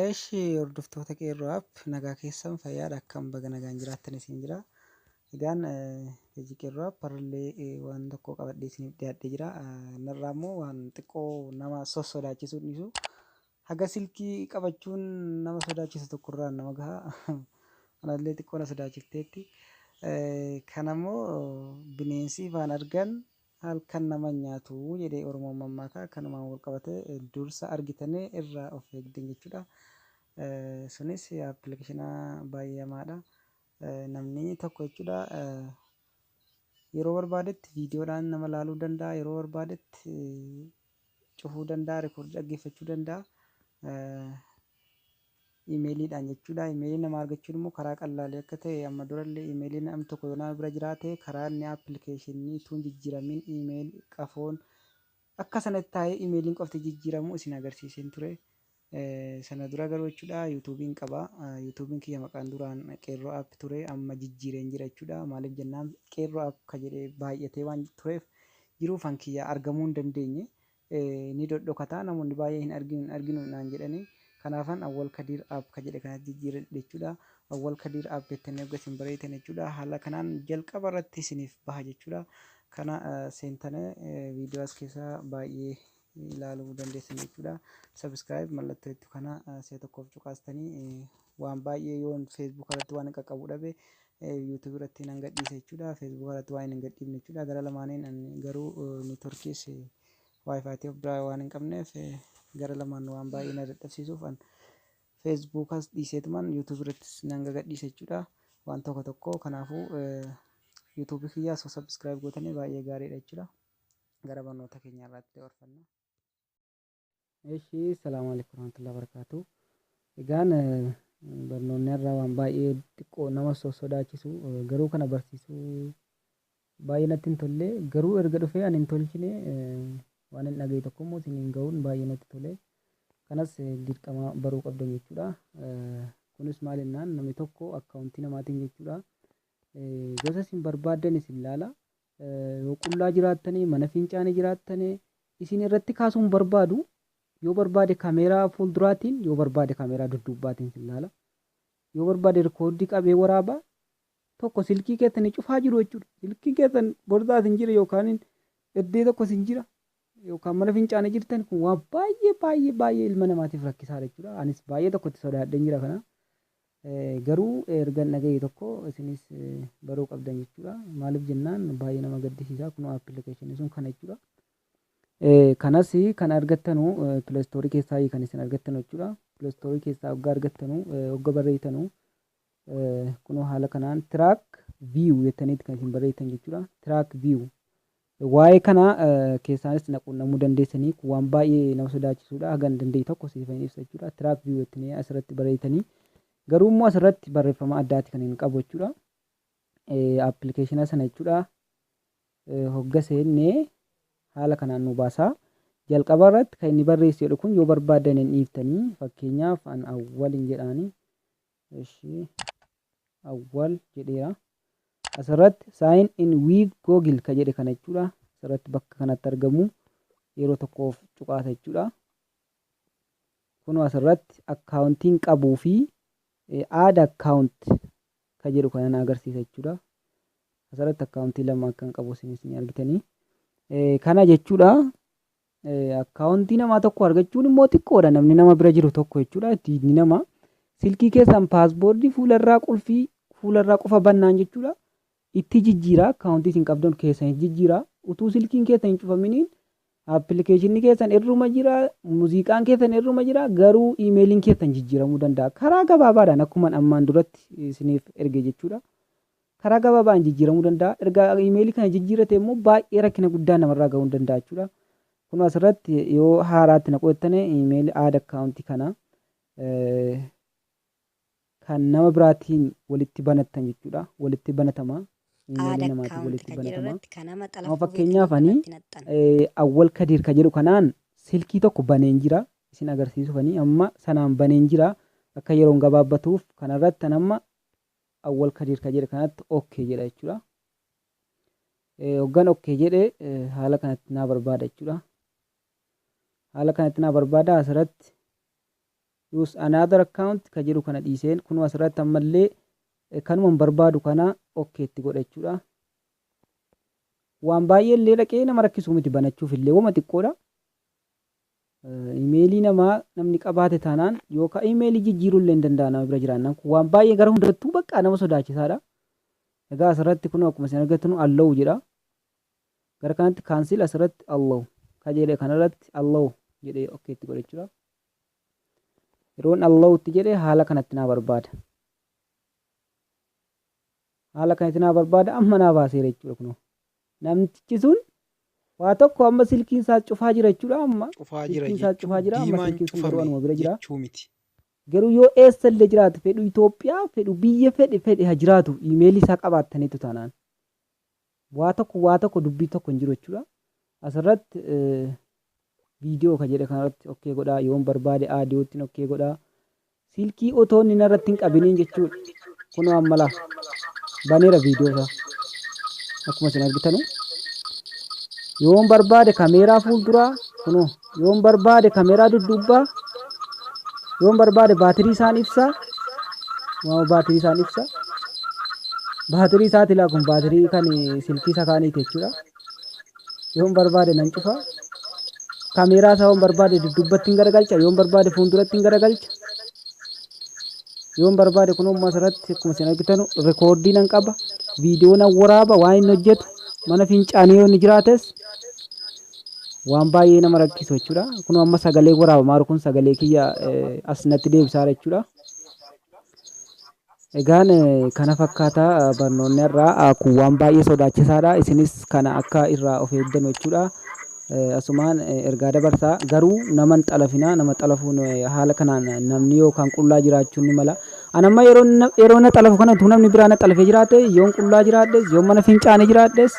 Eshi hordoftoota qeerroo app nagaa keessan fayyaadha akkam baga nagaan jiraattan isin jira. Egaan hojii qeerroo app har'allee eh, waan tokko qabadhee isiniif dhiyaadhee jira. Eh, Narraa immoo waan xiqqoo nama sossodaachisu dhiisu Haga silkii qabachuun nama sodaachisu tokko irraan nama gaha. Anallee xiqqoo na sodaachifteetti. Kanammoo bineensi ifaan argan halkan nama hin nyaatu jedhee Oromoon mammaaka. Kanumaan walqabatee dursa argitanii irraa of eegdan jechuudha. Sunis appilikeeshina baay'ee hamaadha. Namni tokko jechuudha yeroo barbaadetti viidiyoodhaan nama laaluu danda'a. Yeroo barbaadetti cufuu danda'a, record dhaggeeffachuu danda'a. Imeeliidhaan jechuudha. Imeelii namaa argachuun immoo karaa qallaalee akka ta'e amma durallee imeelii nam tokko yoo nama bira jiraate karaa inni appilikeeshinii utuu hin jijjiiramin imeel qafoon akka sanatti taa'ee imeeliin qofti jijjiiramu isin agarsiiseen ture. Sana dura garuu jechuudha yuutuubiin qaba. Yuutuubiin kiyya maqaan duraan Qeerroo App ture amma jijjiireen jira jechuudha. Maaliif jennaan Qeerroo App ka jedhe baay'atee waan tureef jiruu fan kiyya argamuu hin dandeenye. Ni dhodhokata namoonni baay'ee hin arginu hin arginu naan jedhani. Kanaafan Awwal Kadiir App ka jedhe kanatti jijjiiradhe jechuudha. Awwal Kadiir App jettanii hogga isin bareeytan jechuudha haala kanaan jalqaba irratti isiniif baha jechuudha. Kana seentane viidiyoo as keessa baay'ee ilaaluu dandeessan jechuudha. Subscribe mallattoo jettu kana si'a tokkoof cuqaastanii waan baay'ee yoon Facebook irratti waan qaqqabu dhabe YouTube irratti nan gadhiisa jechuudha. Facebook irratti waan hin gadhiifne jechuudha. Gara lamaaniin garuu networkiis wifi ta'e biraa waan hin qabneef gara lamaan waan baay'ee na dadhabsiisuuf an Facebook as dhiiseetuman YouTube irrattis nan gadhiisa jechuudha. Waan tokko tokko kanaafuu YouTube kiyyaa osoo subscribe gootanii baay'ee gaariidha jechuudha. gara barnoota keenya irraatti dabarfanna. Eshi salaamu alaikum warahmatullahi wabarakatuh. Egaan eh, barnoonni har'aa waan baay'ee xiqqoo nama sossodaachisu eh, garuu kana barsiisuu baay'ee natti hin tolle garuu erga dhufee ani hin tolchine eh, waan hin dhagaye tokko immoo isiniin ga'uun baay'ee natti tole. Kanas eh, dirqama baruu qabdan jechuudha. Eh, Kunis maal jennaan namni tokko akkaawuntii namaatiin jechuudha. Eh, Gosa isin barbaaddan isin laala. Yoo qullaa jiraattane, mana fincaane jiraattane isin irratti kaasuu hin barbaadu. Yoo barbaade kameeraa fuulduraatiin, yoo barbaade kameeraa dudduubbaatiin isin laala. Yoo barbaade rikooddii qabee waraaba. Tokko silkii keessani cufaa jiru jechuudha. Silkiin keessan borsaa isin jira yookaan eddee tokko isin jira yookaan mana fincaane jirtan kun waan baay'ee baay'ee baay'ee ilma namaatiif rakkisaadha jechuudha. Anis baay'ee tokko itti sodaadheen jira kana. Garuu ergan dhagahe tokko isinis baruu qabdan jechuudha. Maaliif jennaan baay'ee nama gaddisiisa. Kunoo appilikeeshiniin sun kana jechuudha. Kanas kan argattanu pileestoorii keessaa kan isin argattanu jechuudha. Pileestoorii keessaa hogga argattanu hogga barreessitanu kunoo haala kanaan tiraak viiw jettaniiti kan isin barreessitan jechuudha. Tiraak viiw Waa'ee kana keessaanis na quunnamuu dandeessanii kun waan baay'ee nama sodaachisuudha hagan danda'e tokko siifan ibsa jechuudha track view jettanii asirratti barreessitanii garuu immoo asirratti barreeffama addaati kan hin qabu jechuudha appilikeeshina sana jechuudha hogga seennee haala kanaan nu baasaa jalqaba irratti kan inni barreessu jedhu kun yoo barbaadan hin dhiiftanii fakkeenyaaf an awwal hin jedhaani Eshii awwal jedheera. Asirratti sign in with Google ka jedhe kana jechuudha. Asirratti bakka kanatti argamu yeroo tokkoof cuqaasa jechuudha. Kunoo asirratti akkaawuntiin qabuu fi add account ka jedhu kana na agarsiisa jechuudha. Asirratti akkaawuntii lama akkan qabu isinis ni argitanii. Kana jechuudha Akkaawontii namaa tokko argachuun immoo xiqqoodha namni nama bira jiru tokko jechuudha diinni namaa silkii keessan paasboordii fuularraa qulfii fuularraa qofa bannaan jechuudha itti jijjiiraa akkaawontii isin qabdan keessan itti jijjiiraa utuu silkiin keessan hin cufaminiin appilikeeshinni keessan irruma jira muuziqaan keessan irruma jira garuu iimeeliin keessan jijjiiramuu danda'a karaa gabaabaadhaan akkuman ammaan duratti isiniif erge jechuudha Karaa gabaabaan jijjiiramuu danda'a. Erga iimeelii kana jijjiirrate immoo baay'ee rakkina guddaa namarraa ga'uu danda'a jechuudha. Kun asirratti yoo haaraatti naquu jettane iimeelii aad akkaawuntii kana kan nama biraatiin walitti banattan jechuudha. Walitti banatama. Iimeelii namaatiin walitti banatama. Amma fakkeenyaaf ani Awwal Kadiir ka jedhu kanaan silkii tokko baneen jira. Isin agarsiisuuf ani amma sanaan baneen jira. Akka yeroon gabaabbatuuf kanarratti an amma Awwal Kadiir ka jedhe kanatti ok jedha jechuudha. Hoggan ok jedhe haala kanatti naa barbaada jechuudha. Haala kanatti naa barbaada asirratti use another account ka jedhu kana dhiiseen kunuu asirratti ammallee kanuman barbaadu kana ok itti godha jechuudha. Waan baay'ee illee dhaqee nama rakkisuu miti banachuuf illee wama xiqqoodha. Imeelii namaa namni qabaate taanaan yookaan imeelii jijjiiruu illee hin danda'a nama bira jiraannaan kun waan baay'ee gara hundattuu bakka nama sodaachisaadha. Egaa asirratti kun akkuma isin argatanu allow jedha. Gara kanatti cancel asirratti allow kajeelee kanarratti allow jedhee ok itti godhe jechuudha. Yeroon allow itti jedhe haala kanatti naa barbaada. Haala kanatti naa barbaada amma naa baaseera jechuudha kunoo. Namtichi sun waa tokko amma silkiin isaas cufaa jira jechuudha amma Cufaa jira silkiin isaas jechuun cufaa jira amma diimaan silkiin sun garuu cufame anuma bira jira. jechuu miti. Garuu yoo eessa illee jiraate fedhu Itoophiyaa fedhu biyya fedhe fedhe ha jiraatu iimeelii isaa qabaattaniitu taanaan waa tokko waa tokko dubbii tokko hin jiru jechuudha. Asirratti eh, Video ka jedhe kanarratti ok godhaa yoon barbaade audio ttin ok godhaa silkii otoo inni narratti hin qabiniin jechuudha kunoo ammalaa baneera video isaa akkuma isin argitanu yoon barbaade kameeraa fuulduraa kunoo yoon barbaade kameeraa dudduubbaa yoon barbaade baatirii isaan ibsaa waama baatirii isaan ibsa baatirii isaati laa kun baatirii kan silkii isa kaaniiti jechuudha yoon barbaade nan cufa kameeraa isaa yoon barbaade duddubbatti hin garagalcha yoon barbaade fuulduratti hin garagalcha yoon barbaade kun ammas irratti akkuma isin argitan rikoordii nan qaba viidiyoo nan waraaba waan inni hojjetu mana fincaanii yoo inni jiraates waan baay'ee nama rakkisu jechuudha kun amma sagalee waraabamaa jiru kun sagalee kiyya eh, as natti deebisaa jira jechuudha Egaan kana fakkaata barnoonni har'aa kun waan baay'ee sodaachisaadha isinis kana akka irraa of eegdanu jechuudha. Asumaan ergaa dabarsaa garuu nama hin xalafinaa nama xalafuun haala kanaan namni yookaan qullaa jiraachuun ni mala. An amma yeroo na- yeroo na xalafu kana utuu namni biraa na xalafee jiraate yoon qullaa jiraadhes yoon mana fincaane jiraadhes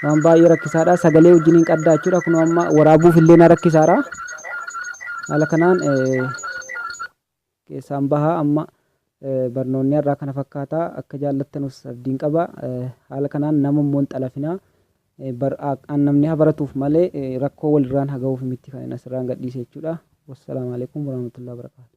waan baay'ee rakkisaadha sagalee wajjin hin qaddaa jechuudha kunoo amma waraabuuf illee na rakkisaara. Haala kanaan eh, keessaan bahaa amma barnoonni har'aa kana fakkaata akka jaallattanus abdiin qaba haala kanaan nama immoo hin xalafinaa an namni haa baratuuf malee rakkoo walirraan haa gahuuf miti kan asirraan gadhiise jechuudha wassalaamu alaikum warahmatullahi wabarakatuh